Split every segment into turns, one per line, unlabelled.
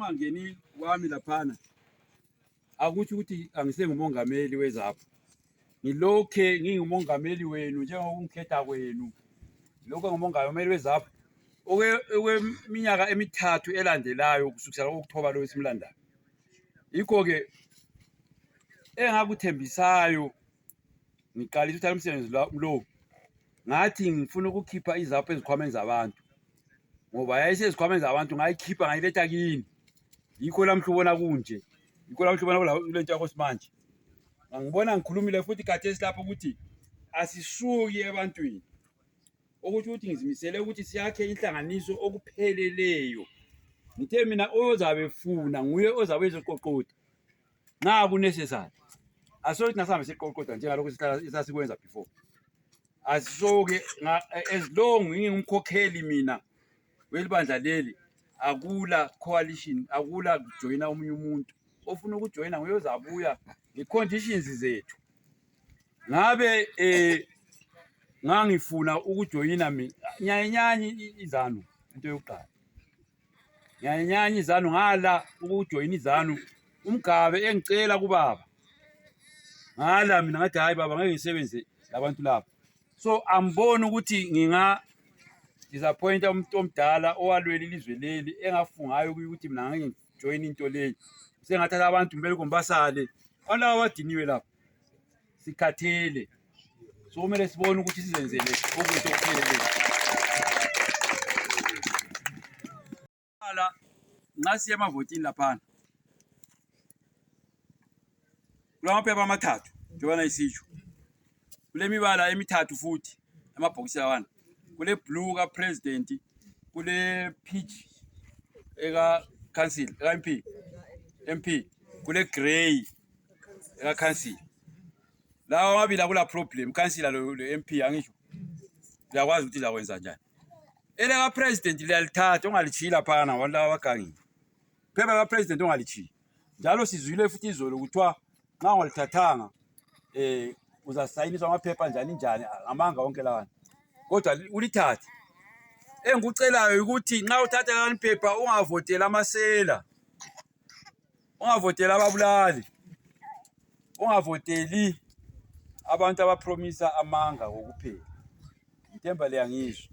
ungangeni wami laphana akutsho ukuthi angisengumongameli wezapho ngilokhe ngingumongameli wenu njengokungikhetha kwenu lokho ngumongameli wezapho okweminyaka emithathu elandelayo kusukisela kokuthoba lo esimlandayo yikho-ke engakuthembisayo ngiqalisa uthatha umsebenzi lo ngathi ngifuna ukukhipha izapho ezikhwameni zabantu ngoba yayisezikhwameni zabantu ngayikhipha ngayiletha kini yikho lamhla ubona kunje yikho lamhla ubona kule nto yakho simanje ngangibona ngikhulumile futhi khathesi lapho ukuthi asisuki ebantwini okutsho ukuthi ngizimisele ukuthi siyakhe inhlanganiso okupheleleyo ngithe mina ozabe funa nguye ozabe ezoqoqoda nxa kunecessary asokuthi nasihambe siqoqoda njengalokhu sasikwenza before asisoke as long ngingumkhokheli mina welibandla leli akula coalition akula kujoyina omunye umuntu ofuna ukujoyina nguye ozabuya nge-conditions zethu ngabe um ngangifuna ukujoyina mina nyayenyanyi izanu into yokuqala nyayenyanyi izanu ngala ukujoyina izanu umgabe engicela kubaba ngala mina ngathi hhayi baba ngeke ngisebenze labantu laba so amboni ukuthi nginga disappointa umuntu omdala owalwela ilizwe leli engafungayo ukuthi mina ngeke ngijoyine into leyi sengathatha abantu kumele kumbasale alaba abadiniwe lapha sikhathele so kumele sibone ukuthi sizenzele okuhle okupheleleyo Hala, nxa siya emavotini laphana kulamaphepha amathathu njengobana isitsho kulemibala emithathu futhi amabhokisi lawana kule blue ka president kule peach eka council eka mp mp kule grey eka council lawa amabili akula problem council lo mp angisho uyakwazi ukuthi zakwenza njani Ele ka president liyalithatha ungalitshiyile laphana abantu laba abagangile. Phepha ka president ungalitshiyile. Njalo sizwile futhi izolo kuthiwa nxa ungalithathanga eh uzasayiniswa amaphepha njani njani ngamanga wonke lawana. Kodwa ulithathe. Engikucelayo ukuthi nxa uthatha leli phepha ungavoteli amasela. ungavoteli ababulali ungavoteli abantu abapromisa amanga kokuphela ngithemba liyangizwa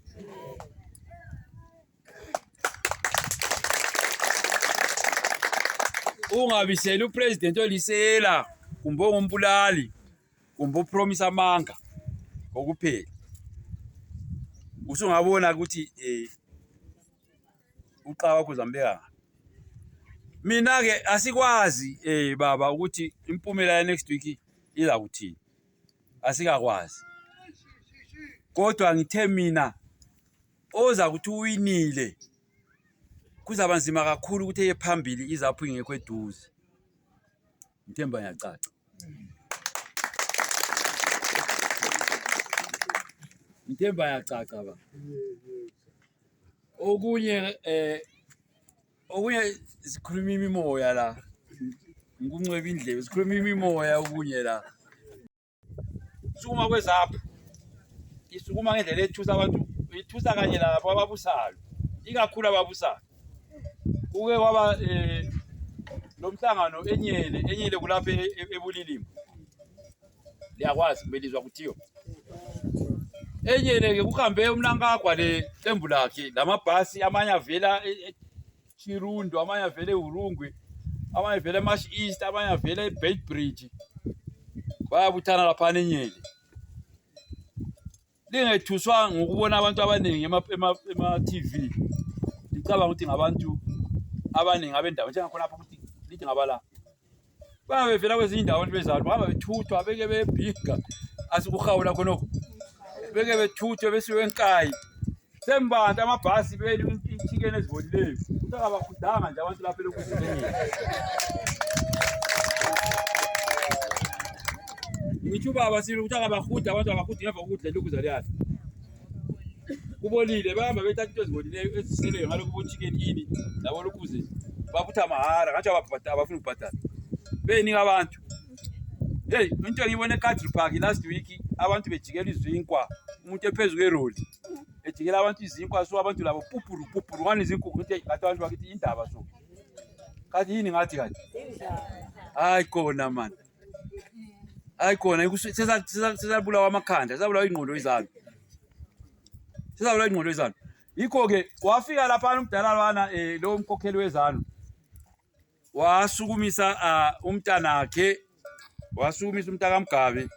ungabiseli upresident olisela kumbe ongumbulali kumbe upromisa amanga kokuphela usungabona ukuthi um eh, uqala wakho uzambeka mina ke asikwazi eh baba ukuthi impumela ya next week iza kuthini asikakwazi kodwa ngithe mina oza kuthi uwinile kuzaba nzima kakhulu ukuthi eye phambili izaphu ingekho eduze ngithemba ngiyacaca ngithemba yacaca ba Okunye eh okunye sikhuluma imimoya la. Ngikuncweba indlebe sikhuluma imimoya okunye la. Sukuma kwezapho. Isukuma ngendlela ethusa abantu ithusa kanye labo ababusayo. Ikakhulu ababusayo. Uke waba eh lomhlangano enyele enyele kulapha e-, e-, ebulilima. liyakwazi kubelizwa kuthiyo enyeleke kuhambe umnankagwa leqembu lakhe lamabhasi amanye avela e- e- Chirundo amanye avela eHurungwe amanye avela eMash East amanye avela eBeitbridge bayabuthana laphana enyele lingethuswa ngokubona abantu abaningi ema-tv licabanga ukuthi ngabantu abaningi abendawo njengakhonapho ukuthi lithi ngabala bayabe bevela kwezinye indawo abantu bezalo bahamba bethuthwa beke bebhiga asikuhawula khonokho beke bethuthwe besiwe nkayi Sembanti amabhasi beli inchicken ezibolileyo. Utakabakudanga nje abantu lapha lokuzibeni. Ngitsho baba sile ukuthi akabahuda abantu abahuda ngemva kokudla lokhu zaliyana. Kubolile bahamba bethatha into ezibolileyo eziseleyo ngalokhu bochicken ini labo lokhu ze babutha mahara ngathi ababhadala abafuna ukubhadala. Beyinika abantu. Hey, into engiyibone eCountry Park last week abantu bejikela izinkwa umuntu ephezulu kweroli. ejikela abantu izinkwa so abantu labo pupuru pupuru ngani izinkwa ukuthi ngathi abantu bakithi indaba so kathi yini ngathi kathi hayi kona man hayi kona sesabulawa amakhanda sesabulawa ingqondo izalo sesabulawa ingqondo izalo yikho-ke wafika laphana umdala lwana um eh, lowo mkhokheli wezalo wasukumisa uh, umntanakhe wasukumisa umntakamgabe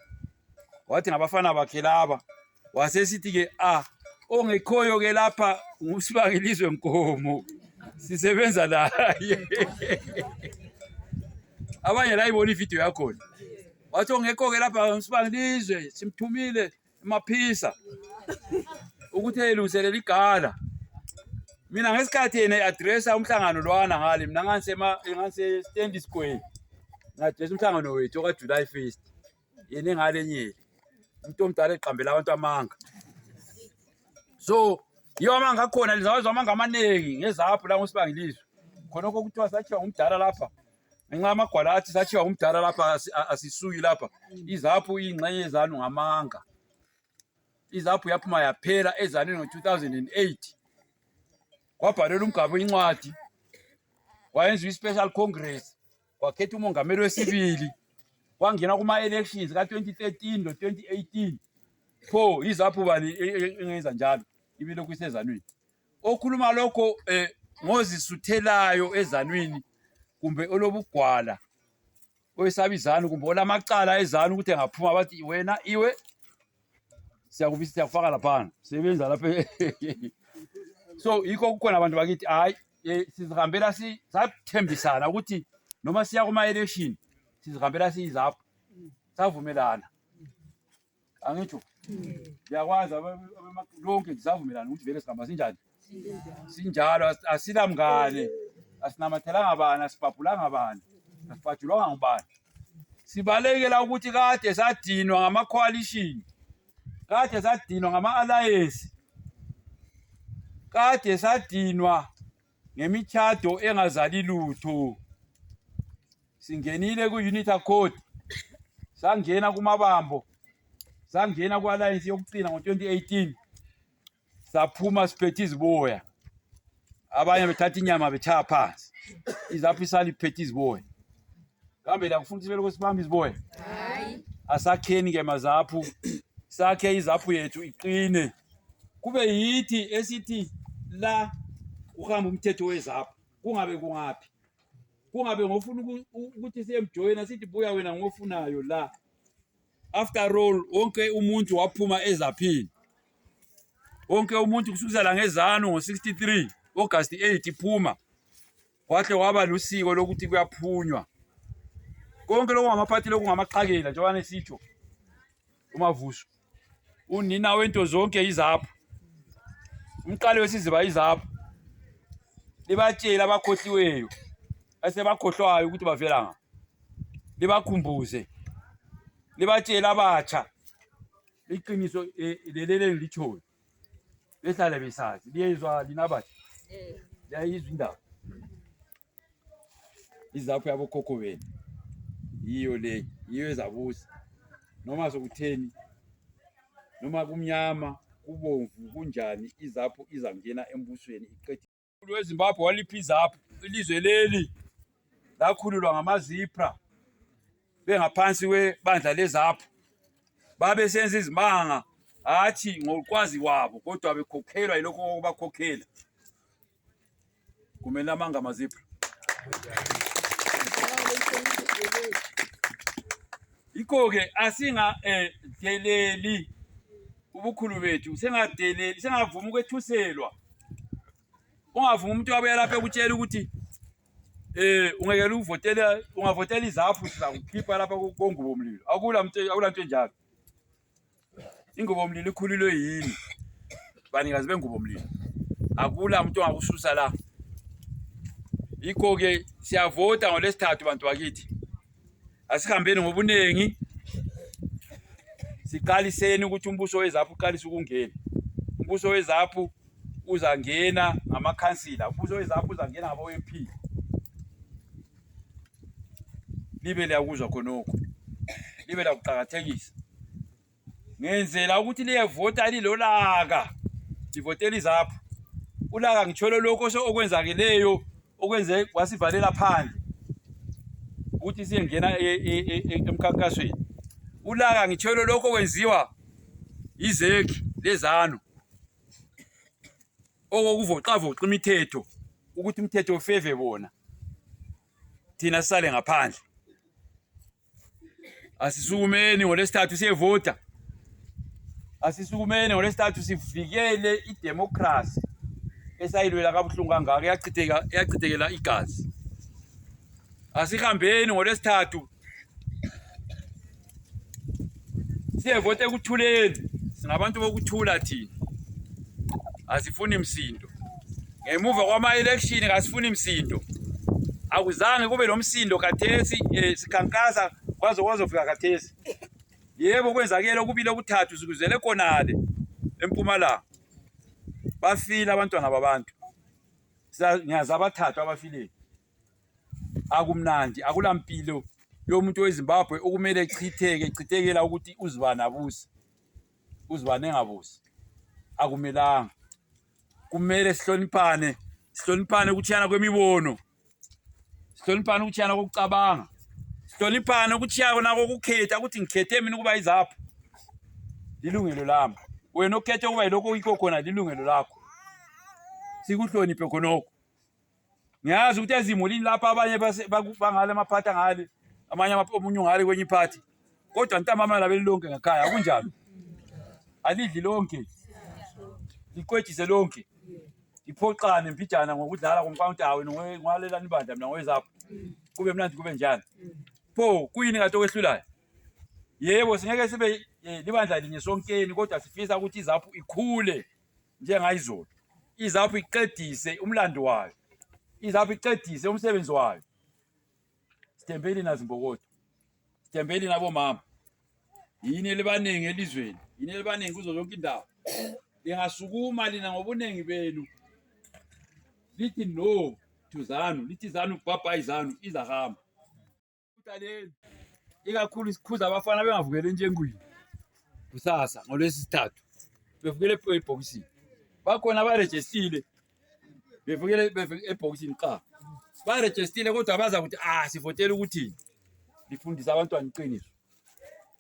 wathi ngabafana bakhe laba wasesithi-ke ah ongekhoyo-ke lapha ngusibangelizwe nkomo sisebenza laye abanye layibona ividiyo yakhona wathi ongekho-ke lapha ngusibangelizwe simthumile maphisa ukuthi eyilungiselela igala mina ngesikhathi yena i-adressa umhlangano lwana ngale mina ngangisestendi square ngi-adressa umhlangano wethu okajuly first yena engale nyeli umuntu omdala eqambela abantu amanga so yiwo amanga akhona lizawezwa amanga amaningi ngezapho la ngosibangilizwe khonokho kuthiwa sathiwa ngumdala lapha ngenxa kwala athi satshiwa ngumdala lapha asisuyi lapha izaphu iyingxenye yezanu ngamanga izaphu yaphuma yaphela ezanini ngo-2008 kwabhalelwa umgabe incwadi wayenziwa i-special congress wakhetha umongameli wesibili wangena kuma-elections ka-2013 lo-2018 pho izaphu bani e, e, e, engenza njalo ibilokhu isezanwini okhuluma lokho eh, ngozisuthelayo ezanwini kumbe olobugwala oyesaba izanu kumbe olamacala ezanu ukuthi engaphuma bathi wena iwe siyakubisa siyakufaka laphana sebenza lapha so yikho kukhona abantu bakithi hayi eh, sizihambela sathembisana ukuthi noma siya kuma-election sizihambela siyizapho savumelana angitsho liyakwazi lonke ngisavumelana ukuthi vele sigamba sinjani sinjalo as- asilamngane asinamathelanga bani asibhabhulanga bani asibhajulwanga ngubani sibalekela ukuthi kade sadinwa ngama-coalition kade sadinwa ngama-alliance kade sadinwa ngemitshado engazali lutho singenile ku-unit accord sangena kumabambo sangena ku-alliance yokucina ngo-2018 saphuma siphethe iziboya abanye bethatha inyama betshaya phansi izapho isali iphethe iziboya kambe lakufuna ukuthi belokhu sibambe iziboya asakheni-ke mazaphu sakhe izaphu yethu iqine kube yithi esithi la kuhamba umthetho wezapho kungabe kungaphi kungabe ngofuna ukuthi siyemjoyina sithi buya wena ngofunayo la after all wonke umuntu waphuma ezaphini wonke umuntu kusukisela ngezanu ngo-63 August 8 iphuma Kwahle waba lusiko lokuthi kuyaphunywa. Konke lokho ngamaphathi lokho ngamaqakela njengoba nesitsho. Umavuso. Unina wento zonke izapho. Umqali wesiziba izapho. Libatshela abakhohliweyo. Asebakhohlwayo ukuthi bavela ngaphi. Libakhumbuze. Libatshela abatsha. Iqiniso eh, lelele ngilitshoyo. Besale bisazi biyezwa linabathi eh. yayizwa indaba izapho yabokhokho benu yiyo le yiyo ezabusa noma sokutheni noma kumnyama kubomvu kunjani izapho izangena embusweni iqede Umkhulu weZimbabwe waliphiza apho ilizwe leli lakhululwa ngamazipra bengaphansi kwebandla lezapho babesenza izimanga hatshi ngokwazi kwabo kodwa bekhokhelwa yilokho okubakhokhela kumele amanga amazipra Yikho-ke asingadeleli ubukhulu bethu, singadeleli, singavumi ukwethuselwa. Ungavumi umuntu wabuya lapha ekutshela ukuthi eh ungekele ukuvotela ungavotela izaphu sizakukhipha lapha kongubo mlilo. Akula muntu akula muntu enjalo. Ingubo mlilo ikhulilwe yini? Banikazi bengubo mlilo. Akula umuntu ongakususa la. Yikho ke siyavota ngolesithathu bantu bakithi. Asihambeni ngobuningi. Siqaliseni ukuthi umbuso wezaphu uqalise ukungena. Umbuso wezaphu uzangena ngamakhansila. Umbuso wezaphu uzangena ngabo MP. libe liyakuzwa khonokho libe lakuqakathekisa ngenzela ukuthi liyevota lilolaka livotela izapho ulaka ngitsholo lokho okwenzakeleyo okwenze wasivalela phandle ukuthi siyengena e, e, e, emkhankasweni ulaka ngitsholo lokho okwenziwa yizeki lezanu okokuvoxavoxa imithetho ukuthi umthetho ufeve bona thina sisale ngaphandle asisukumeni ngolesithathu siyevota asisukumeni ngolesithathu sivikele idemokhrasi esayilwela kabuhlungu kangaka eyachithekela igazi asihambeni ngolesithathu Siyevota ekuthuleni, singabantu bokuthula thina, asifuni msindo. Ngemuva kwama-election kasifuni msindo, akuzange kube lomsindo khathesi eh, sikhankasa kwaze kwazofika khathesi. Yebo kwenzakele okubili okuthathu sikuzele khonale empumalanga, bafile abantwana babantu, ngiyazi abathathu abafilile. akumnandi akulampilo yomuntu wezimbabwe okumele chitheke chithekela ukuthi uzibani abusi uzibani engabusi akumelanga kumele sihloniphane sihloniphane ukutshiyana kwemibono sihloniphane ukutshiyana kokucabanga sihloniphane ukutshiyana kona kokukhetha ukuthi ngikhethe mina ukuba izapho lilungelo lami wena okhethe ukuba yilokho yikho khona lilungelo lakho sikuhloniphe khonokho ngiyazi ukuthi ezimulini lapha abanye bangale amaphathi angale amanye omunye ungale kwenye iphathi kodwa ntambama labeli lonke ngakhaya akunjalo alidli lonke liqwejise lonke iphoxane mpijana ngokudlala komkawuntawe nowalelani bandla mina ngowezapho kube mnandi kube njani pho kuyini kade okwehlulayo yebo singeke sibe eh, libandla linye sonkeni kodwa sifisa ukuthi izaphu ikhule njengayizolo izapho iqedise umlando wayo izapho iqedise umsebenzi wayo sithembeni nazimbokodo sithembeni nabomama yini elibaningi elizweni yini elibaningi kuzo zonke indawo lingasukuma lina ngobuningi benu lithi no to zanu lithi zanu bhabhayi zanu izahamba ikakhulu sikhuza abafana bengavukeli entshengwini kusasa ngolwesithathu bevukele ebhokisini bakhona barejestile bevukele ebhokisini qha barejestile kodwa baza ukuthi ah sivotela ukuthini lifundise abantwana iqiniso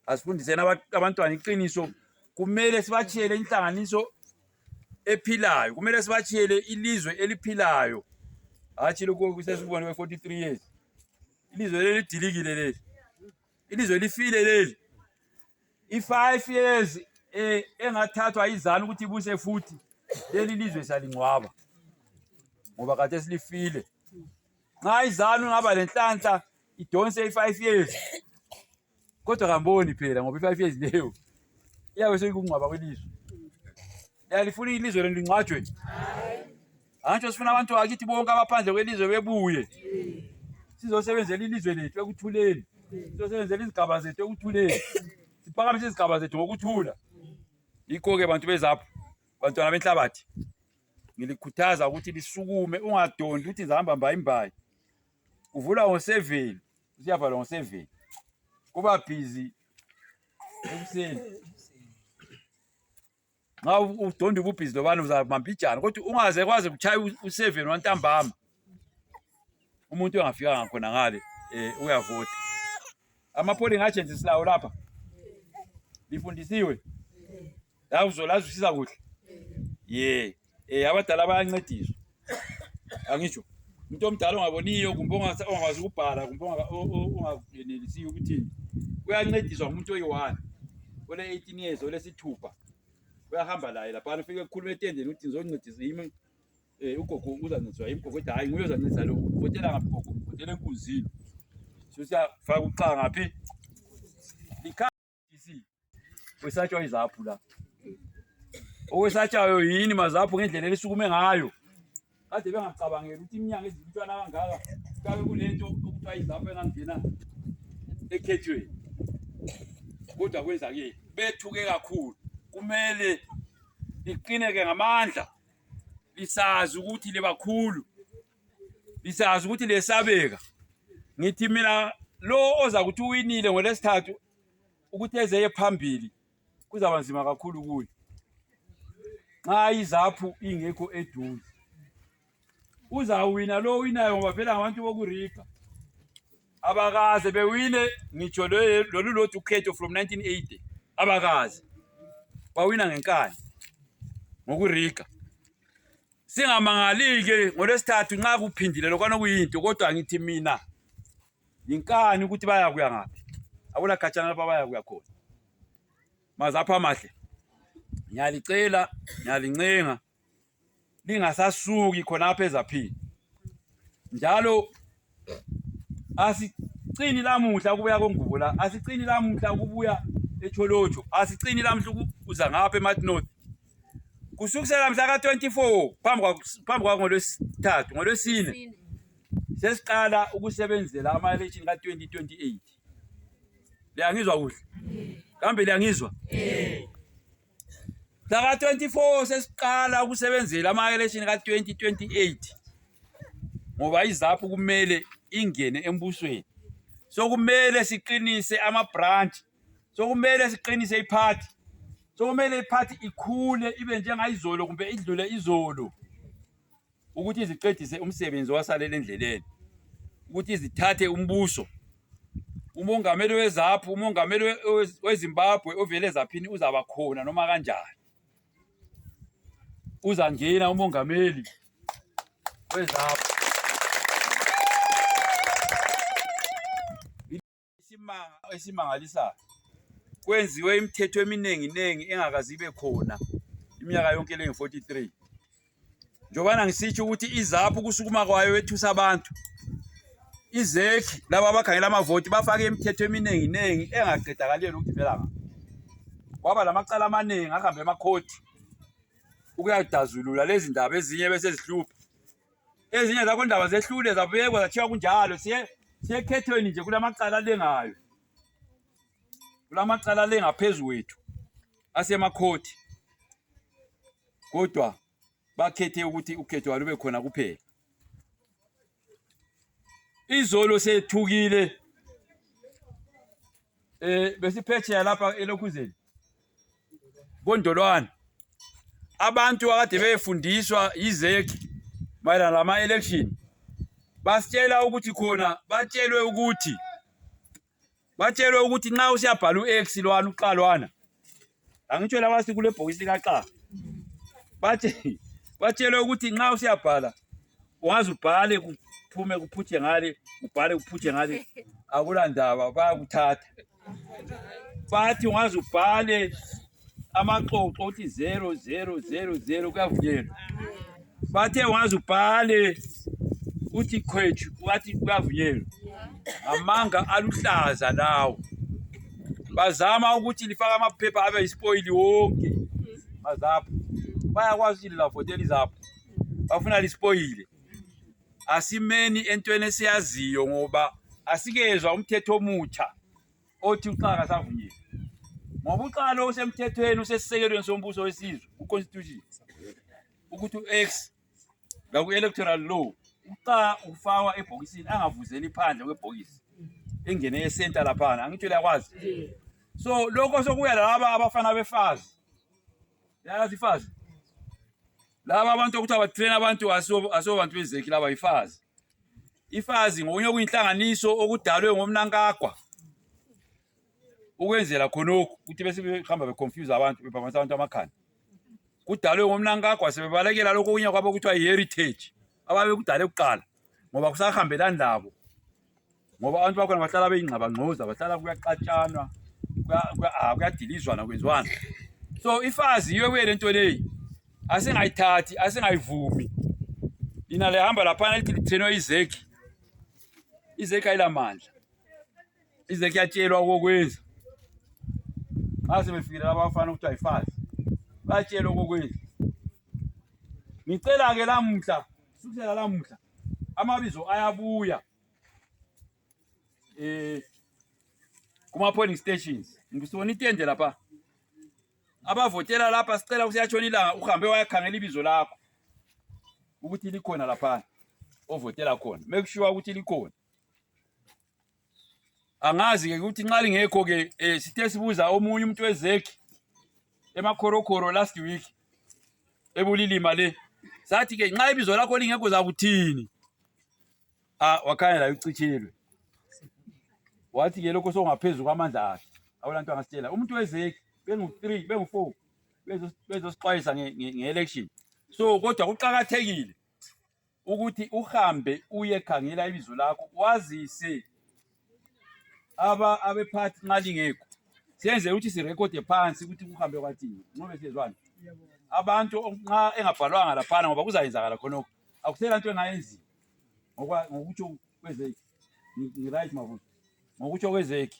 asifundiseni abantwana iqiniso kumele sibatshiyele inhlanganiso ephilayo kumele sibatshiyele ilizwe eliphilayo hatshi lokhu kusesibone we 43 years ilizwe leli lidilikile leli ilizwe lifile leli i-five years eh, engathathwa izana ukuthi ibuse futhi leli lizwe salingcwaba ngoba kade silifile nxa izanu ngaba lenhlanhla idonse i-five years Kodwa kamboni phela ngoba i-five years leyo iyabe seyikungcwaba kwelizwe. Yalifuna ilizwe lenu lingcwatshwe. Antsho sifuna abantu bakithi bonke abaphandle kwelizwe bebuye. Sizosebenzela ilizwe lethu ekuthuleni. Sizosebenzela izigaba zethu ekuthuleni. Siphakamise izigaba zethu ngokuthula. Yikho-ke bantu bezapho, bantwana benhlabathi, ngilikhuthaza ukuthi lisukume, ungadondi ukuthi ngizahamba mbayimbayi. kuvula ngo 7 usiyavala ngo 7 kuba busy ekuseni nxa udonda ububhizi lobana uzamambijana kodwa ungaze kwaze kuchaya u-seven wantambama umuntu engafikanga khona ngale um uyavota ama-polling agents silawo lapha lifundisiwe Lakuzo lazwisisa kuhle. Ye. Eh abadala bayancediswa. Angisho. Umuntu omdala ongaboniyo kumbe ongasa- ongakwazi ukubhala kumbe onga- o- o- ongayenelisiyo ukuthini. Uyancediswa ngumuntu oyi-one. Ole 18 years olesithupha. Uyahamba laye lapha ufike ekhuluma etendeni ukuthi ngizoncedisa yimi eh ugogo uzancediswa yimi gogo ethi hayi nguye ozancedisa lo. Votela ngaphi gogo? Votela enkunzini. Sosiya faka uxa ngaphi? Likha Isi. Wesatshwa izaphu la. Okwesatshwayo yini mazaphu ngendlela elisukume ngayo. Kade bengacabangeli ukuthi iminyanga ezilutshwana kangaka kabe kulento okuthiwa izaphu engangena ekhethweni. Kodwa kwenzakele bethuke kakhulu. Kumele liqineke ngamandla lisazi ukuthi libakhulu lisazi ukuthi lesabeka ngithi mina lo oza kuthi uwinile ngolesithathu ukuthi ezeye phambili kuzaba nzima kakhulu kuye nxa izaphu ingekho eduze uzawina lo winayo ngoba phela ngabantu bokuriga abakaze bewine ngitsho lolu lodwa ukhetho from 1980 abakaze bawina ngenkani ngokuriga singamangalike ngolwesithathu nxa kuphindile lokwana kuyinto kodwa ngithi mina yinkani ukuthi bayakuya ngaphi akula khatshana lapha bayakuya khona mazapha amahle ngiyalicela ngiyalincenga lingasasuki khonapha ezaphini njalo asicini lamuhla ukubuya kongubo la asicini lamuhla ukubuya echolotsho asicini lamuhla ukuza ngapha emat north kusukisela mhla ka-24 phambi kwangolwesithathu ngolwesine sesiqala ukusebenzela ama-election ka-2028 liyangizwa kuhle kambe liyangizwa Mhlaka 24 sesiqala ukusebenzela ama election ka 2028 ngoba iZAPU kumele ingene embusweni. So kumele siqinise ama branch. So kumele siqinise iparty. So kumele iparty ikhule ibe njengayizolo kumbe idlule izolo. ukuthi ziqedise umsebenzi owasalela endleleni ukuthi zithathe umbuso umongameli wezaphu umongameli wezimbabwe ovele zaphini uzaba khona noma kanjani uzangena umongameli wezaphu Isimanga esimangalisayo kwenziwe imithetho eminengi nengi engakazi ibe khona iminyaka yonke le 43 njobana ngisitsho ukuthi izaphu kusukuma kwayo ethusa abantu izekhi laba abakhangela amavoti bafake imithetho eminingi ningi engaqedakaleli ukuthi vela ngapha kwaba lamacala amaningi ahambe emakhothi ukuyadazulula lezi ndaba ezinye besezihlupha ezinye zakho ndaba zehlule zabekwa zathiwa kunjalo siye siyekhethweni nje kulamacala lengayo kulamacala lengaphezulu wethu asemakhothi kodwa bakhethe ukuthi ukhetho walube khona kuphela izolo sethukile eh besiphetsheya lapha elokhuzeni kondolwane abantu akade beyefundiswa yizeki mayelana lama-election basitshela ukuthi khona batshelwe ukuthi batshelwe ukuthi nxa usiyabhala u-x lwana uqalwana Angitsho laba sikule bhokisi likaxa. Bathi batshelwe ukuthi nxa usiyabhala ungaze ubhale kuphume kuphutshe ngale, ubhale kuphutshe ngale akula ndaba bayakuthatha. Bathi ungaze ubhale amaxoxo uthi 0000 kuyavunyelwa. bate wanzu pale uthi khwetshu wathi kuyavunyelwa amanga aluhlaza lawo bazama ukuthi lifake amaphepha abe yisipoyili wonke mazapho bayakwazi ukuthi lilafotela izapho bafuna lisipoyile asimeni entweni esiyaziyo ngoba asikezwa umthetho omutsha othi uxaka savunyelwa ngoba uxaka lo usemthethweni usesisekelweni sombuso wesizwe ku-constitution ukuthi u-x laku-electoral law uqa ufakwa ebhokisini angavuzeli phandle kwebhokisi engene esenta laphana angitsho liyakwazi so lokho sokuya laba abafana befazi yayazi ifazi laba abantu okuthiwa batrena abantu asobantu bezeki laba yifazi ifazi ngokunye okuyinhlanganiso okudalwe ngomnankagwa ukwenzela khonokhu ukuthi besebehamba beconfuse abantu bephambanisa abantu amakhanda kudalwe ngomnankagwa sebebalekela lokho okunye kwabo kuthiwa yi-heritage ababekudale kuqala ngoba kusahambelani labo ngoba abantu bakhona bahlala beyingxabangxoza bahlala kuyaxatshanwa ah, kuyadilizwana kwenziwana so ifazi yiyo kuye le nto leyi asingayithathi asingayivumi lina lihamba laphana lithi lithenwe izeki izeki ayilamandla ize kuyatshelwa okokwenza nxa sebefikile laba abafana ukuthi ayifazi bayatshelwa okokwenza ngicela-ke lamuhla kusukela lamuhla amabizo ayabuya um kuma-polling stations ngisibona itende lapha abavotela lapha sicela kusiyatshona ilanga uhambe wayakhangela ibizo lakho ukuthi likhona laphana ovotela khona make sure ukuthi likhona angazi-ke ukuthi nxa lingekho-ke um eh, sithe sibuza omunye umuntu wezekhi emakhorokhoro last week ebulilima le sathi-ke nxa ibizo lakho lingekho zakuthini a ah, wakhanya layo ucitshelwe wathi-ke lokho sokungaphezu kwamandla akhe awulanto angasitshela umuntu wezekhi bengu-three bengu-four bezosixwayisa nge-election so kodwa kuqakathekile ukuthi uhambe uyekhangela ibizo lakho wazise aba abephathi nxa lingekho senze ukuthi sirekhode phansi ukuthi kuhambe kwathini ncobe siyezwani abantu nxa engabhalwanga laphana ngoba kuzayenzakala khonokho akusela nto engayenziwa ngokutsho kwezeki ngiright mabuza ngokutsho kwezeki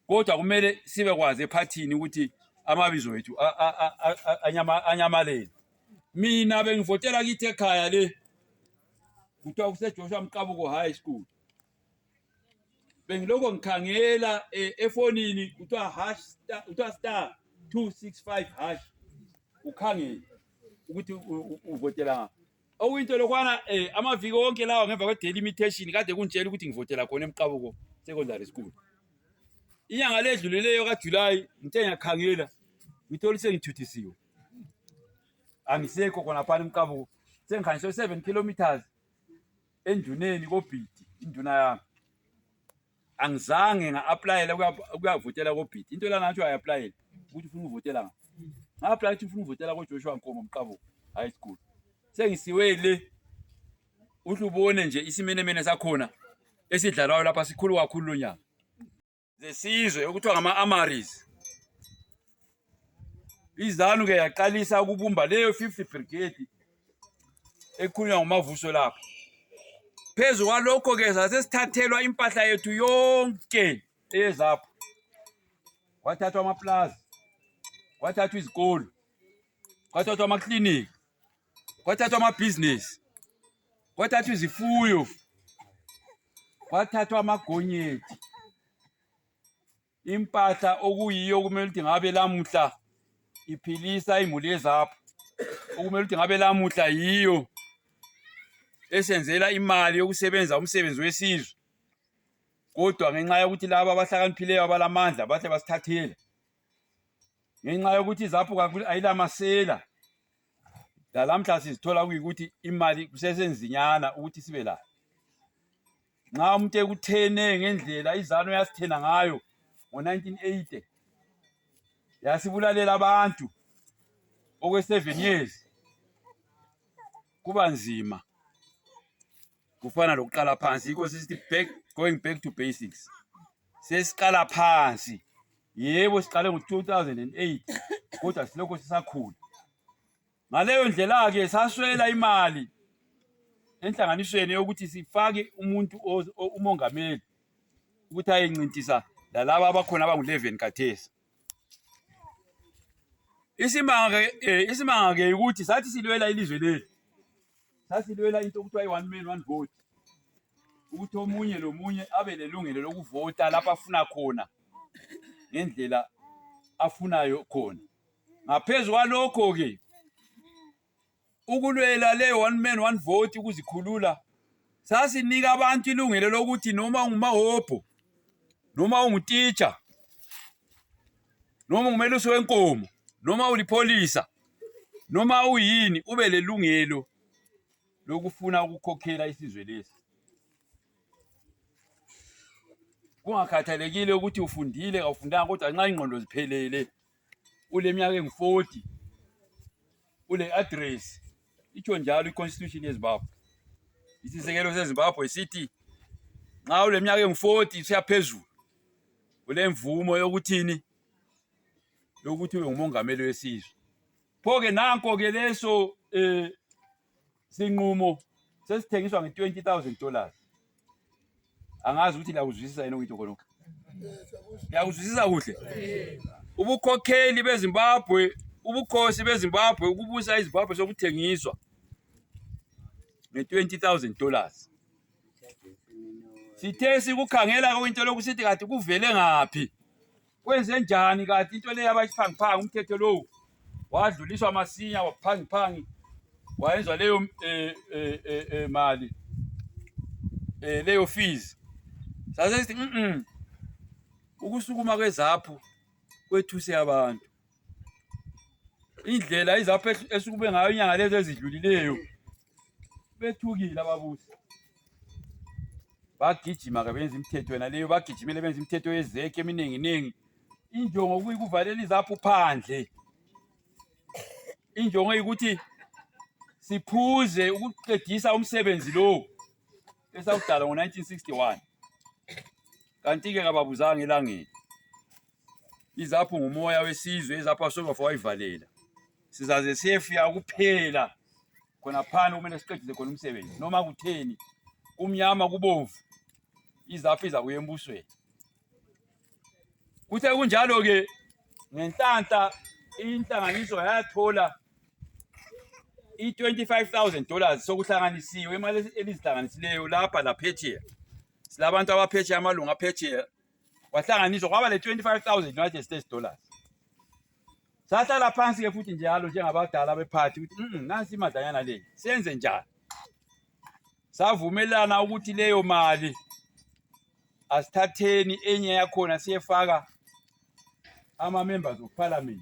kodwa kumele sibekwazi ephathini ukuthi amabizo wethu anyamalele mina bengivotela kithi ekhaya le kuthiwa kusejoshua mqabuko high school bengilokho ngikhangela eh, efonini kuthiwa hash kuthiwa star 265 hash ukhangele ukuthi uvotela okuyinto lokwana eh amaviki onke lawa ngemva kwe delimitation kade kuntshela ukuthi ngivotela khona emqabuko secondary school inyanga ledlulileyo kaJuly ngithe ngiyakhangela ngithola sengithuthisiwe angisekho khona phana emqabuko sengikhanjiswe 7 kilometers enduneni kobhidi induna yami angizange nga-aplayela ukuyavotela kobhidi into lana atsho ayi-aplayele ukuthi ufuna ukuvotela nga nga-aplaya ukuthi ufuna ukuvotela kojoshua nkomo mqabuko high school sengisiwe le uhle ubone nje isimenemene sakhona esidlalwayo lapha sikhulu kakhulu lo nyaka zesizwe okuthiwa ngama-amaris izanu ke yaqalisa ukubumba leyo 50 brigade ekhulunywa ngumavuso lapho phezu kwalokho ke sasesithathelwa impahla yethu yonke eyezapho kwathathwa amaplaza kwathathwa izikolo kwathathwa amakliniki kwathathwa amabhizinesi kwathathwa izifuyo kwathathwa amagonyethi impahla okuyiyo okumele ukuthi ngabe lamuhla iphilisa imuli ezapho okumele ukuthi ngabe lamuhla yiyo esenzela imali yokusebenza umsebenzi wesizwe kodwa ngenxa yokuthi laba abahlakaniphileyo abalamandla bahle basithathela ngenxa yokuthi izapho ayilamasela lalamhla sizithola kuyikuthi imali kusesenzinyana ukuthi sibe layo nxa umuntu ekuthene ngendlela izanu yasithena ngayo ngo-1980 yasibulalela abantu okwe-seven years kuba nzima kufana lokuqala phansi yikho sisithi back going back to basics sesiqala phansi yebo siqale ngo-2008 kodwa silokho sisakhula ngaleyo ndlela-ke saswela imali enhlanganisweni yokuthi sifake umuntu umongameli ukuthi ayencintisa lalaba abakhona abangu-11 kathesi isimanga-ke eh, isimanga-ke ukuthi sathi silwela ilizwe leli sasilwela into okuthiwa i-one man one vote ukuthi omunye lomunye abe lelungelo lokuvota lapho afuna khona ngendlela afunayo khona ngaphezu kwalokho-ke ukulwela le one man one vote ukuzikhulula sasinika abantu ilungelo lokuthi noma ungumahobho noma ungutitsha noma ungumelusi wenkomo noma ulipholisa noma uyini ube lelungelo lokufuna ukukhokhela isizwe lesi kungakhathalekile ukuthi ufundile kawufundanga kodwa nxa ingqondo ziphelele uleminyaka engu-40 ule address itsho njalo iconstitution yezimbabwe isisekelo sezimbabwe sithi nxa uleminyaka engu-40 usiyaphezulu ulemvumo yokuthini yokuthi ube ngumongameli wesizwe pho ke nanko ke leso um sinqumo sesithengiswa nge-20000 dollars angazi ukuthi liyakuzwisisa yini okuyitho khonokho liyakuzwisisa kuhle ubukhokheli bezimbabwe ubukhosi bezimbabwe ukubusa izimbabwe sokuthengiswa nge-20000 dollars sithe sikukhangela kuyinto lokusithi kati kuvele ngaphi Kwenze njani kanti into leyo abayiphangiphanga umthetho lowu wadluliswa masinya waphangiphangi wayenzwa leyo eh, eh, eh, eh, mali eh, leyo fees sase sithi mm ukusukuma kwezaphu kwethuse abantu indlela izapho esukube ngayo inyanga lezi ezidlulileyo bethukile ababusi bagijima ke benza imithetho yona leyo bagijimele benza imithetho yezekhe emininginingi injongo kuyikuvalela izaphu phandle injongo yikuthi siphuze ukuqedisa umsebenzi lowo esawudala ngo-1961 kanti-ke kababuzanga elangeni izapho ngumoya wesizwe izapho asobafa wayivalela sizaze siyefika kuphela khona phana kumele siqedise khona umsebenzi noma kutheni kumnyama kubomvu izapho izakuya embusweni kuthe kunjalo-ke ngenhlanhla inhlanganiso yayathola i-25,000 dollars sokuhlanganisiwe imali elizihlanganisileyo lapha laphetsheya silabantu abaphetsheya amalungu aphetsheya wahlanganiswa kwaba le 25000 United States dollars sahlala phansi ke futhi njalo njengabadala bephathi ukuthi mm nansi imadanyana le senze njani savumelana ukuthi leyo mali asithatheni enye yakhona siyefaka ama members of parliament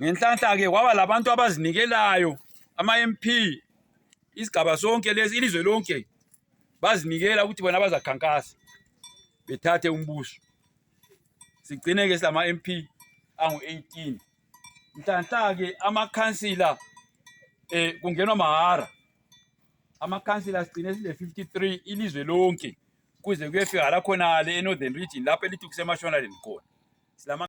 Ngenhlanhla-ke kwaba labantu abazinikelayo ama-MP isigaba sonke lesi ilizwe lonke bazinikela ukuthi bona bazakhankasa bethathe umbuso sigcine-ke silama-MP angu-18 nhlanhla-ke amakhansila eh kungenwa mahara amakhansila sigcine sile-53 ilizwe lonke kuze kuyefika la khonale e-northern region lapho elithi kusemashonaleni khona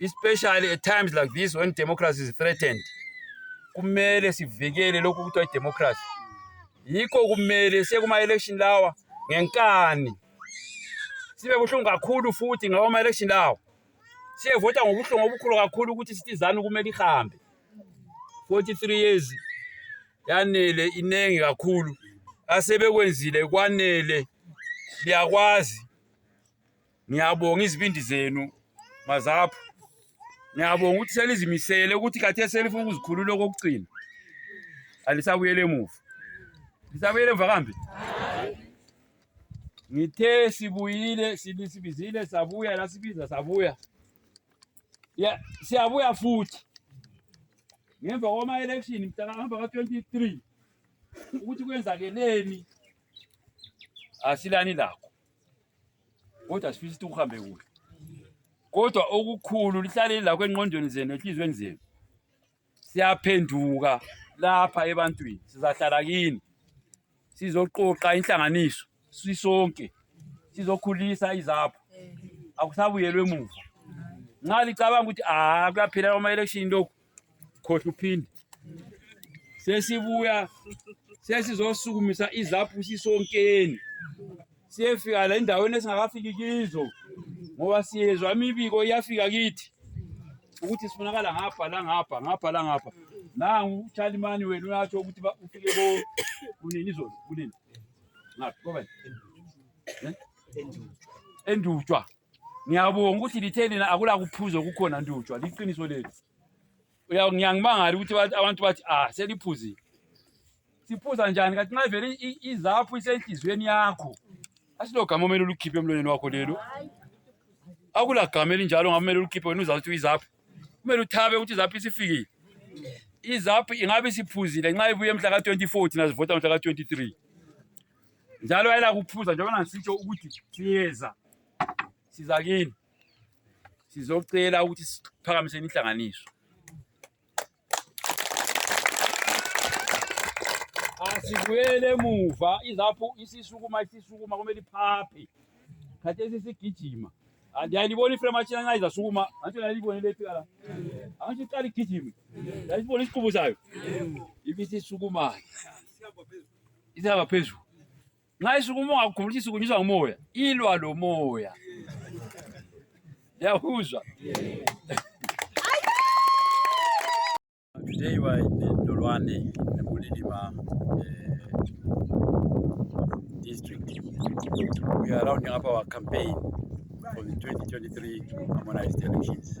especially at times like this when democracy is threatened kumele sivikele lokhu kuthiwa idemocracy yikho kumele sekuma-election lawa ngenkani sibe buhlungu kakhulu futhi ngawo ama-election lawa siyevota ngobuhlungu obukhulu kakhulu ukuthi sitizani kumele ihambe 43 years yanele iningi kakhulu asebekwenzile kwanele liyakwazi Ngiyabonga izibindi zenu mazapho. Ngiyabonga ukuthi selizimisele ukuthi kathi selifuna ukuzikhulula okokugcina. Alisabuyele emuva. Lisabuyele emuva kambe? Ngithe sibuyile sibisibizile sabuya la sibiza sabuya. Ya siyabuya futhi. Ngemva kwama election mtaka hamba ka 23 ukuthi kwenzakeleni asilani lakho. kodwa sifisa ukuthi kuhambe kuhle kodwa okukhulu lihlaleli lakho enqondweni zenu enhliziyweni zenu siyaphenduka lapha ebantwini sizahlala kini sizoqoqa inhlanganiso sisonke sizokhulisa izapho akusabuyelwe emuva nxa licabanga ukuthi a ah, kuyaphela kwama-election lokhu khohluphinde sesibuya sesizosukumisa izaphu sisonkeni siyefika la endaweni esingakafiki kizo ngoba siyezwa imibiko iyafika kithi ukuthi sifunakala ngapha langapha ngapha langapha nangu utshalimani wenu uyatsho ukuthi ufike ko kunini izolo kunini ngaphi kobani eh? endutshwa ngiyabonga ukuthi lithe lina akulakuphuza okukhona ndutshwa liqiniso lenu ngiyangibangala ukuthi abantu bathi ah seliphuzile siphuza njani kanti nxa vele izaphu isenhliziyweni yakho asilogama omele ulukhiphe emlonyeni wakho lelo akulagama elinjalo ngabe umele ulukhiphe wena uzakuthi uyizaphu kumele uthabe ukuthi izaphu isifikile izaphu ingabe isiphuzile nxa ibuye mhla ka-24 thina sivota mhla ka-23 njalo ayela kuphuza njengoba ngisitsho ukuthi siyeza siza kini sizocela ukuthi siphakamise inhlanganiso asibuyele emuva izaphu isisukuma isisukuma kumele iphaphe khathesi sigijima andiyayilibona iframe atshina nxa izasukuma antsho nayilibone lephika la antsho iqala igijime yayisibona isiqubu sayo ibisisukuma izaba phezulu nxa isuku uma ungakhumbulisa isuku nyiswa ngumoya ilwa lomoya yahuzwa today wa Ndolwane Bulilima uh, eh, district we are rounding up our campaign for the 2023 harmonized elections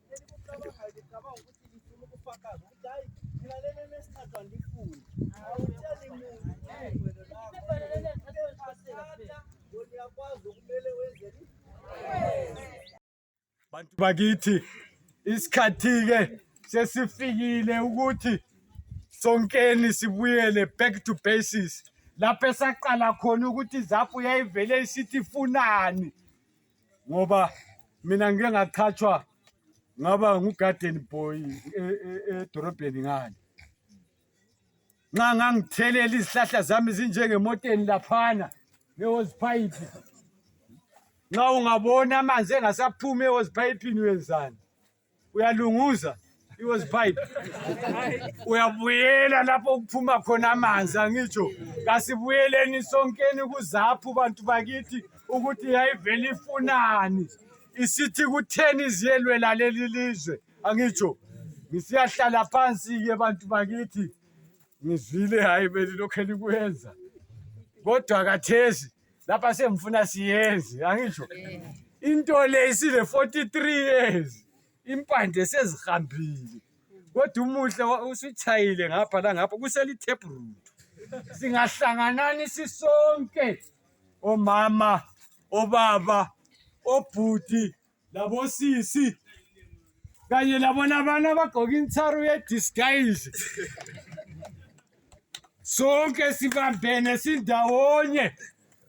bantu bakithi isikhathi-ke sesifikile ukuthi sonkeni sibuyele back to basis lapho esaqala khona ukuthi izaphu yayivele isithi funani ngoba mina ngike ngathathwa ngaba ngugarden boy e- e- edorobheni ngani nxa ngangithelela izihlahla zami zinjengemoteni laphana ehoziphayiphi nxa ungabona amanzi engasaphumi ehoziphayipini wenzani uyalunguza it was pipe uyabuyela lapho kuphuma khona amanzi angitsho kasibuyeleni sonkeni kuzaphu bantu bakithi ukuthi yayivele ifunani isithi kutheni ziyelwela leli lizwe angitsho ngisiyahlala phansi-ke bantu bakithi ngizwile hhayi belilokhu elikwenza kodwa kathesi lapha sengifuna siyenze angitsho into le isile 43 years impande sezihambile kodwa umuhle wa- usuchayile ngapha langapha kuselitep root singahlanganani sisonke omama obaba obhuti labosisi kanye labona abantu abagqoke insaru yedisguise sonke sibambene sindawonye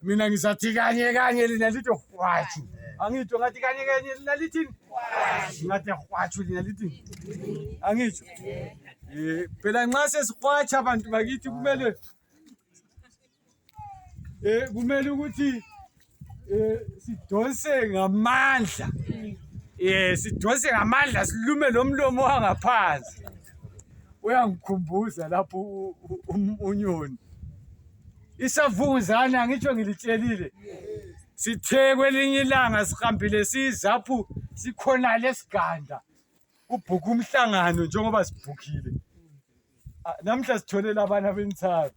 mina ngizathi kanye kanye lina lithi hwatshu angitsho ngathi kanye kanye lina lithini ngathi hwatshu lina lithini angitsho um phela nxa sesihwatsha abantu bakithi kumele eh kumele ukuthi eh sidonse ngamandla eh sidonse ngamandla silume lomlomo wangaphansi uyangikhumbuza lapho unyoni isavunguzane angitsho ngilitshelile sithe kwelinye ilanga sihambile siyizaphu sikhona lesiganda kubhukha umhlangano njengoba sibhukhile Ah, namhla sithole labana abensaba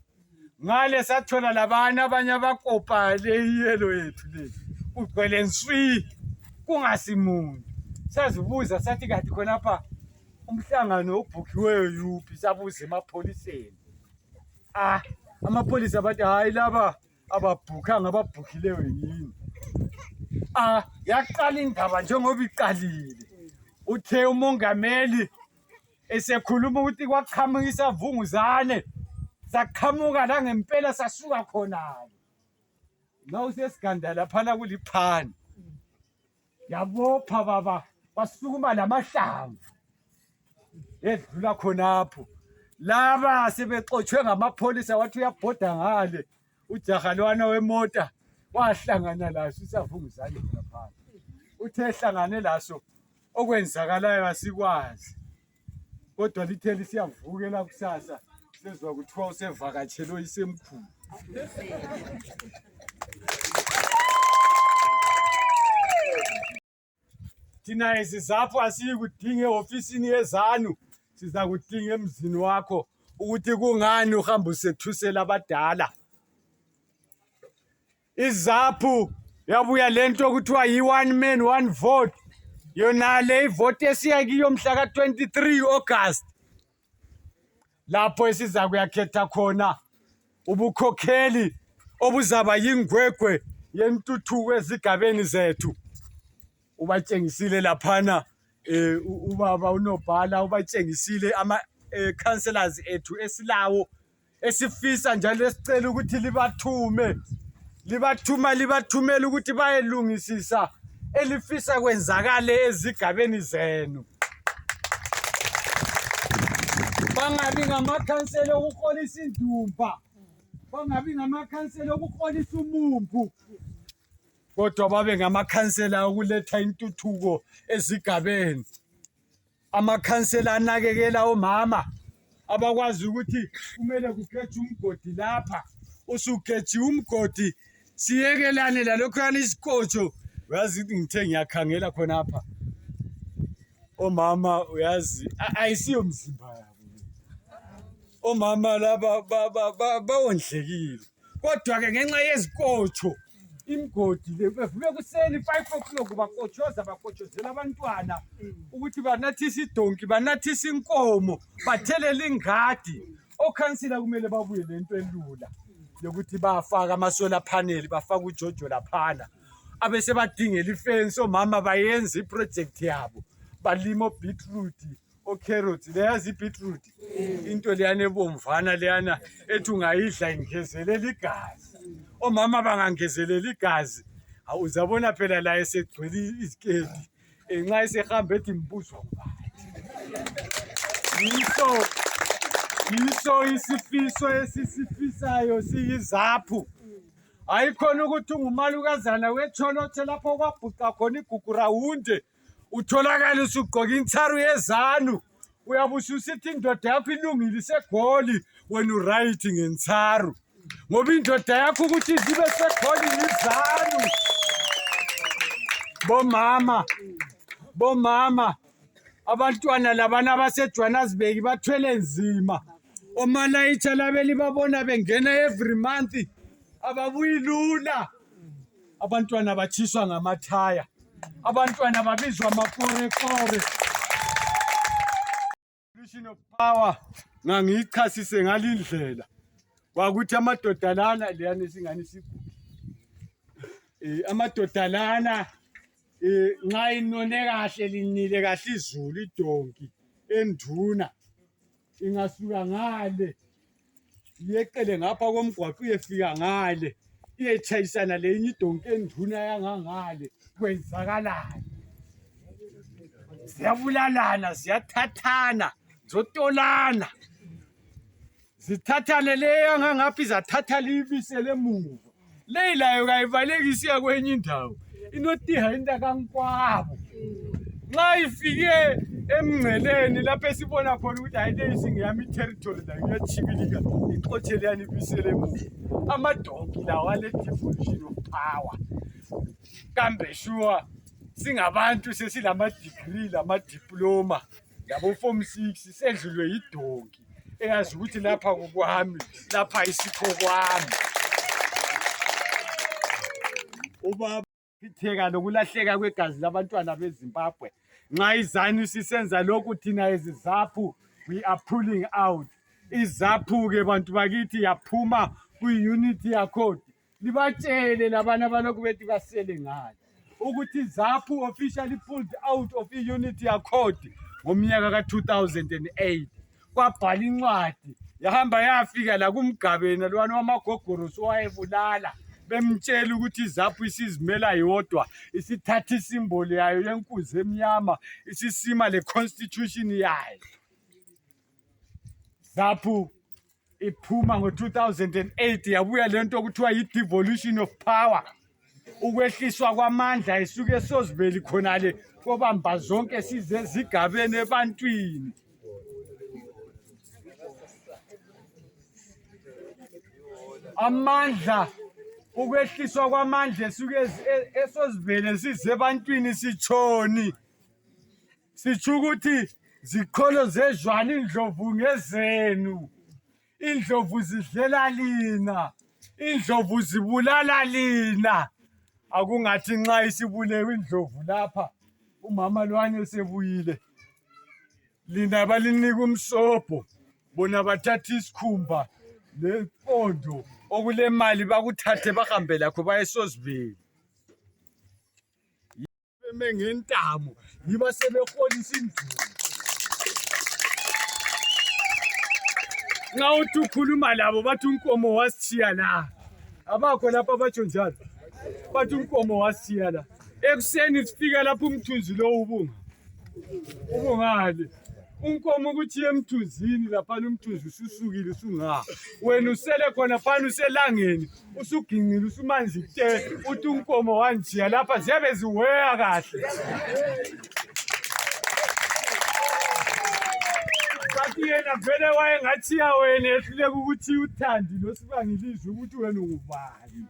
ngale sathola labana abanye abakopa le iyelo yethu le kugcwele nswi kungasimuntu sazibuza sathi kanti khonapha umhlangano obhukhiweyo yuphi sabuza emapholiseni ah amapholisa bathi hhayi laba ababhukhanga ababhukhileyo yini ah yaqala indaba njengoba iqalile uthe umongameli esekhuluma ukuthi kwaqhamuka isavunguzane saqhamuka la ngempela sasuka khona-ke ma usesiganda laphana kuliphani yabopha baba wasukuma lamahlamvu edlula khonapho laba sebexotshwe ngamapholisa wathi uyabhoda ngale ujaha lwana wemota wahlangana laso isavunguzane khonaphansi uthe ehlangane laso okwenzakalayo asikwazi kodwa lithe lisiyavukela kusasa sezwa kuthiwa usevakatshelwe isemkhulu thina esizapho asiyikudinga ehofisini yezanu siza kudinga emzini wakho ukuthi kungani uhamba usethusela abadala izaphu yabuya lento okuthiwa yi-one man one vote yona le ivoti esiya kiyo mhla ka-23 august lapho esiza kuyakhetha khona ubukhokheli obuzaba yingwegwe yentuthuko ezigabeni zethu ubatshengisile laphana eh ubaba unobhala ubatshengisile ama eh, councillors ethu esilawo esifisa njalo esicela ukuthi libathume libathuma libathumela ukuthi bayelungisisa elifisa kwenzakale ezigabeni zenu bangabi ngamakhansela okuholisa indumba bangabi ngamakhansela okuholisa umumbu kodwa babe ngamakhansela okuletha intuthuko ezigabeni amakhansela anakekela omama abakwazi ukuthi kumele kugejwe umgodi lapha usugejiwe umgodi siyekelane lalokhuyana isikotsho uyazi ngithe ngiyakhangela khonapha omama uyazi ayisiyo mzimba yabo omama laba bawondlekile kodwa-ke ngenxa yezikotsho imgodi le bevuke kuseni five o'clock bakotshoza bakotshozela abantwana ukuthi banathise idonki banathise inkomo bathelele ingadi okhansila kumele babuye le nto elula yokuthi bafake amasola phaneli bafake ujojo laphana abesebadingela ifensi omama bayenze iprojekthi yabo balima obeetroot ocarrots leya zibeetroot into leyana ebomvana leyana ethi ungayidla ingezelela igazi omama bangangezelela igazi uzabona phela laye segcwele iziketi eh, nxa esehamba ethi mbuzwa yiso yiso isifiso esisifisayo siyizaphu hayi khona ukuthi ungumalukazana wetsholotshe lapho kwabhuca khona igugu rawunde utholakale usugqoke insaru yezanu uyabe ususithi indoda yakho ilungile isegoli wena uright ngensaru ngoba indoda yakho ukuthi zibe segoli yizanu bomama bomama abantwana labana abasejohannesburg bathwele nzima omalayitsha labeli babona bengena every month ababuyi lula abantwana batshiswa ngamathaya abantwana babizwa amakorekore solution of power ngangiyichasise ngalindlela kwakuthi amadoda lana leyana esingani sigula um eh, amadoda lana um nxa inone kahle linile kahle izulu idonki enduna ingasuka ngale yeqele ngapha komgwaqo uyefika ngale iyetshayisana lenye idonki enduna yangangale kwenzakalani ziyabulalana ziyathathana zotolana zithathane leyo angangaphi zathatha liyibisele emuva leyi layo kayibalekisiya kwenye indawo inotiha intakankwabo nxa ifike emngceleni lapho esibona khona ukuthi hayi leyi singeyami iterritory layo iyatshibilika ixotshe leyani ibisele emuva amadonki lawo ale-devolution of power kambe shuwa singabantu sesilamadigri lamadiploma lama labofomu six sedlulwe yidonki eyazi ukuthi lapha kukwami lapha isikho kwami ubaba itheka lokulahleka kwegazi labantwana bezimbabwe nxa izanu sisenza lokhu thina ezizaphu we are pulling out izaphu-ke bantu bakithi yaphuma kwi-unity yakhodi libatshele labana balokhu bethi basele ngani ukuthi zaphu officially pulled out of i-unit yakhodi ngomnyaka ka-2008 kwabhala incwadi yahamba yafika la kumgabeni lwana wamagogorosi owayebulala bemtshela ukuthi izaphu isizimela yodwa isithatha isimbolo yayo yenkuzi emnyama isisima le-constitution yayo ZAPU iphuma ngo-2008 yabuya le nto okuthiwa yi-devolution of power ukwehliswa kwamandla isuke sozibeli khonale kobamba zonke size zigabeni ebantwini amandla ukwehliswa kwamandla esuke esozivele sizebantwini sitshoni sitsho ukuthi ziqholo zezwana indlovu ngezenu indlovu zidlela lina indlovu zibulala lina akungathi nxa isibulewe indlovu lapha umama lwani esebuyile lina balinika umsobho bona bathatha isikhumba lempondo okulemali bakuthathe bahambe lakho bayesozibeli beme ngentamo yiba sebeholisa induku nxa uthi ukhuluma labo bathi unkomo wasitshiya la abakho lapha batsho njalo bathi unkomo wasitshiya la ekuseni sifika lapho umthunzi lowo ubunga ubungale unkomo ukuthi yemthunzini laphana umthunzi ususukile usungaha wena usele khona phana uselangeni usugingile usumanzi te uthi unkomo wanjiya lapha ziyabe ziweya kahle bathi yena vele wayengathiya wena ehluleka ukuthi uthandi losibangilizwe ukuthi wena ungubani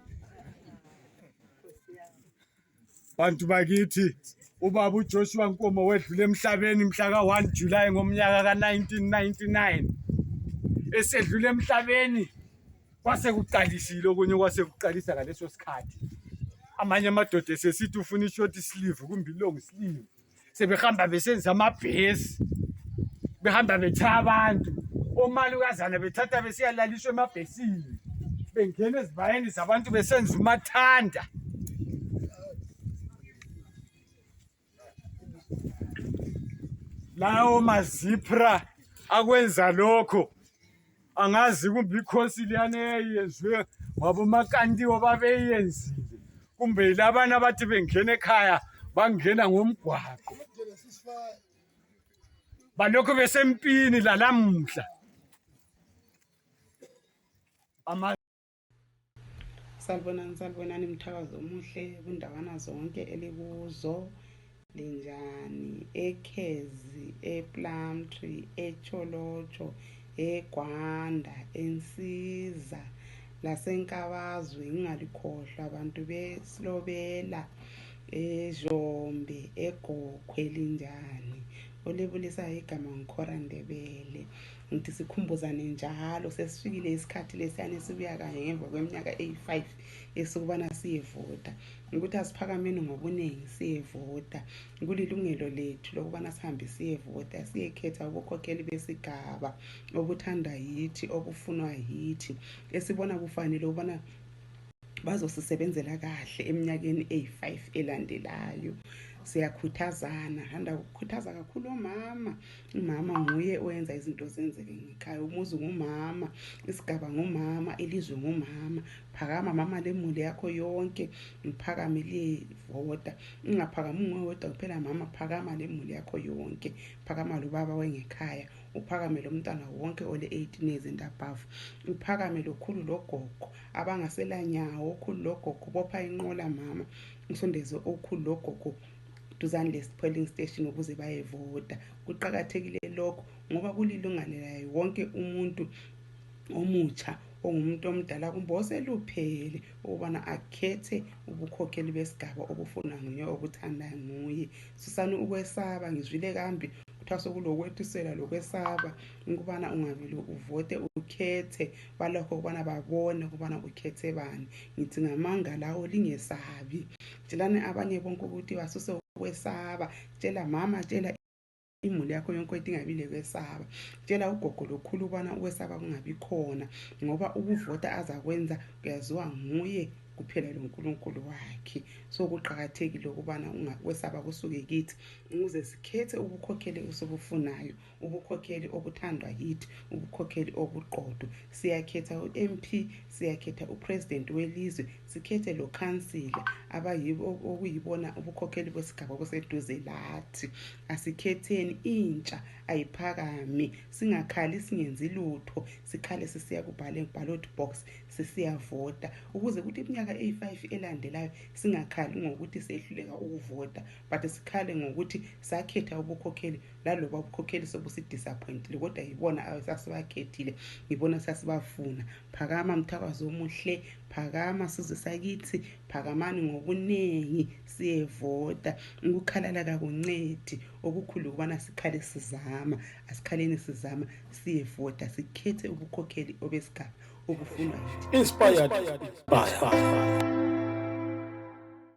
bantu bakithi ubaba uJoshua Nkomo wedlule emhlabeni mhla ka-1 July ngomnyaka ka-1999 esedlule emhlabeni kwase kuqalisile okunye kwase kuqalisa ngaleso sikhathi amanye amadoda esesithi ufuna ishort sleeve kumbe ilong sleeve sebehamba besenza amabhesi behamba betshaya abantu omalukazana bethatha besiyalaliswa emabhesini bengena ezibayeni zabantu besenza umathanda lawo mazipra akwenza lokho angazi kumbe ikhosi liyana eyayiyenziwe ngabomakantiwo babeyenzile kumbe yilabana abathi bengena ekhaya bangena ngomgwaqo balokhu besempini lalamuhla
salibonani salibonani mthakazi omuhle kundawana zonke elikuzo linjani ekhezi eplumtree echolotsho egwanda ensiza lasenkabazwe ngingalikhohlwa abantu besilobela ezhombe egokhwe linjani olibulisayo igama ngikhora ndebele ngithi sikhumbuzane njalo sesifikile isikhathi lesiyane sibuya kanye ngemva kweminyaka eyi-five esokubana siyevota ukuthi asiphakameni ngobuningi siyevota kulilungelo lethu lokubana sihambe siyevota siyekhetha ubukhokheli besigaba obuthandwa yithi obufunwa yithi esibona kufanele ukubana bazosisebenzela kahle eminyakeni eyi-five elandelayo siyakhuthazana handa kukhuthaza kakhulu omama umama nguye owenza izinto zenzeke ngekhaya umuzi ngumama isigaba ngumama ilizwe ngumama phakama mama lemuli yakho yonke ngiphakame liyevota ingaphakami unguwe wedwa kuphela mama phakama lemuli yakho yonke phakama lobaba wengekhaya uphakame lo mntwana wonke ole-18 years and above uphakame lokhulu logogo abangaselanyawo okhulu logogo bopha inqola mama usondeze okhulu logogo duzane lesipholing station ukuze bayevota kuqakathekile lokho ngoba kulilungane layo wonke umuntu omutsha ongumuntu omdala kumbe oseluphele ukubana akhethe ubukhokheli besigaba obufunwa nguye okuthanda nguye susani ukwesaba ngizwile kambi kuthiwa sokulokwethisela lokwesaba ukubana ungavele uvote ukhethe balokho ukubana babone ukubana ukhethe bani ngithi ngamanga lawo lingesabi tshelani abanye bonke ukuthi basuse ukwesaba tshela mama tshela imuli yakho yonke into ingabi lekwesaba tshela ugogo lokhulu ubana ukwesaba kungabi khona ngoba ukuvota azakwenza kuyaziwa nguye kuphela lonkulunkulu wakhe so kuqakathekile ukubana kwesaba kusuke kithi ukuze sikhethe ubukhokhele osobufunayo ubukhokheli obuthandwa yithi ubukhokheli obuqotho siyakhetha u-mp siyakhetha upresident welizwe sikhethe lokhansila okuyibona ubukhokheli besigaba obuseduze lathi asikhetheni intsha ayiphakami singakhali singenzi lutho sikhale sisiya kuballot box sisiyavota ukuze kuthi iminyaka eyi-five elandelayo singakhali ngokuthi sehluleka ukuvota but sikhale ngokuthi sakhetha ubukhokheli laloba ubukhokheli sobusidisappointile kodwa yibona sasibakhethile yibona sasibafuna phakama mthakazi omuhle phakama sizwe sakithi phakamani ngobuningi siyevota ukukhalala kakuncedi okukhulu ukubana sikhale sizama asikhaleni sizama siyevota sikhethe ubukhokheli obesigaba obufunwa yithi